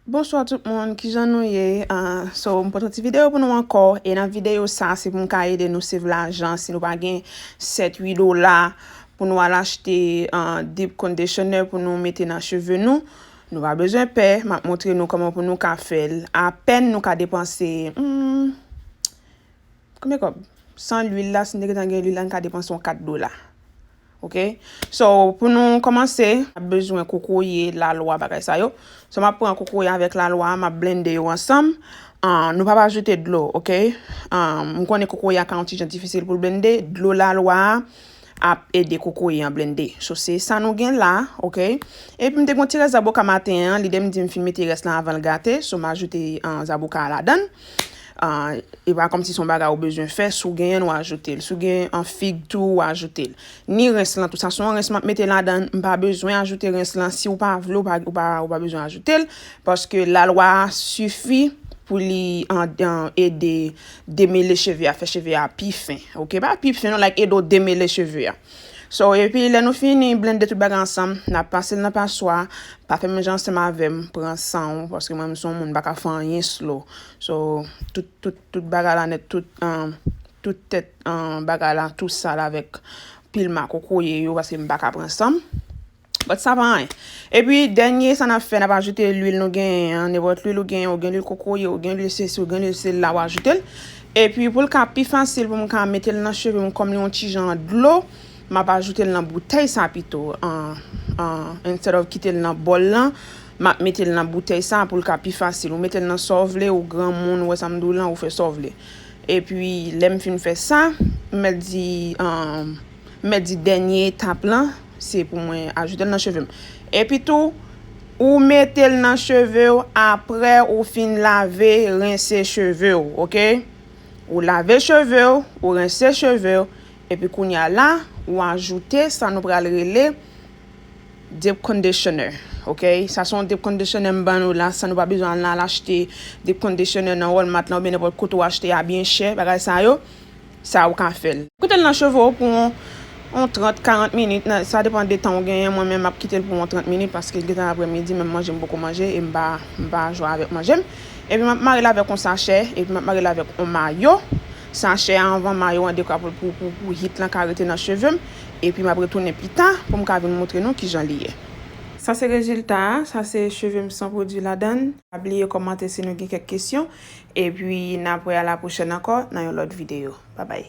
Bonswa tout moun kijan nou ye so m pote yon ti video pou nou ankò e nan video sa se pou m ka ede nou save lajan si nou pa gen 7 8 dola pou nou al achte deep conditioner pou nou mete nan cheve nou nou pa bezwen pè map montre nou kòman pou nou ka fèl apèn nou ka depanse Konbyen kòb? San lwil la, si nou te gentan gen lwil la, nou ta depanse yon 4 dola. Ok? So, pou nou kòmanse, n ap bezwen kokoye, lalwa, bagay sa yo. So, m ap pran kokoye avèk lalwa a, m ap blende yo ansanm. Nou pa pa ajoute dlo, ok? M konnen kokoye a ka yon ti jan difisil pou l blende. Dlo lalwa a, ap ede kokoye an blende. So se sa nou gen la, ok. Epi m te gen yon ti rès zaboka maten an, lide m di m fin mete rès lan avan l gate, so m ajoute zaboka a ladan. E pa kòmsi se yon bagay ou bezwen fè, si w genyen l w ajoute l. Si w gen fig tou w ajoute l. Ni rens lan tou, sa se yon rens m ap mete ladan, m pa bezwen ajoute rens lan, si w pa vle w pa bezwen ajoute l, paske lalwa a sifi pou li ede Demele cheve a fè cheve a pi fen ok pa pi fen non like ede w demele cheve a so epi lè nou fini blende tout bagay ansanm na pasel nan paswa pa fè menm jan ansanm avèm pran san w paske mwen m son moun m pa ka fè anyen slow so tout tout tout bagay la nèt tout an tout tèt an bagay la tou sal avèk pil makokoye yo paske m pa ka pran san m. But sa pa anyen. Epi dènye sa nap fè nap ajoute lwil nou genyen an, nenpòt lwil ou genyen, ou gen lwil kokoye, ou gen lwil sesi, ou gen lwil sila ou ajoute l. Epi pou l ka pi fasil pou m ka mete l nan cheve m kòm li yon ti jan dlo, map ajoute l nan boutèy sa pito instead of kite l nan bòl lan, map mete l nan boutèy sa pou l ka pi fasil. Ou mete l nan sa w vle, ou granmoun, ou wè sa m di w lan, ou fè sa w vle. Epi lè m fin fè sa, m mèt di m mèt di dènye etap lan. Se pou mwen ajoute l nan cheve m. Epi tou, ou mete l nan cheve w apre ou fin lave, rense cheve w. Ok? Ou lave cheve w, ou rense cheve w, epi kounye a la, ou ajoute sa nou pral rele deep conditioner. Ok? Sa se yon deep conditioner m ban nou la, san nou pa bezwen al achte deep conditioner nan Walmart la oubyen nenpòt kote ou achte a byen chè, bagay sa yo. sa ou ka fèl. Kitel nan cheve ou pou on 30, 40 minit nan sa depan de tan ou genyen mwen menm map kitel pou on 30 minit paske gentan aprè midi menm manje mpoko manje em pa m pa jwa avèk manjem epi map marel avèk on sachè epi map marel avèk on mayo sachè a anvan mayo an dekwa pou pou pou pou hit lan ka rete nan chevem epi map retounen pita poum ka vin moutre nou kijan li ye. Sa se rezilta a, sa se chevem san pwodwi ladann. Pa bliye kòmante si nou gen kèk kesyon. Epi na p wè a la pwochèn ankò nan yon lòt videyo. Babay!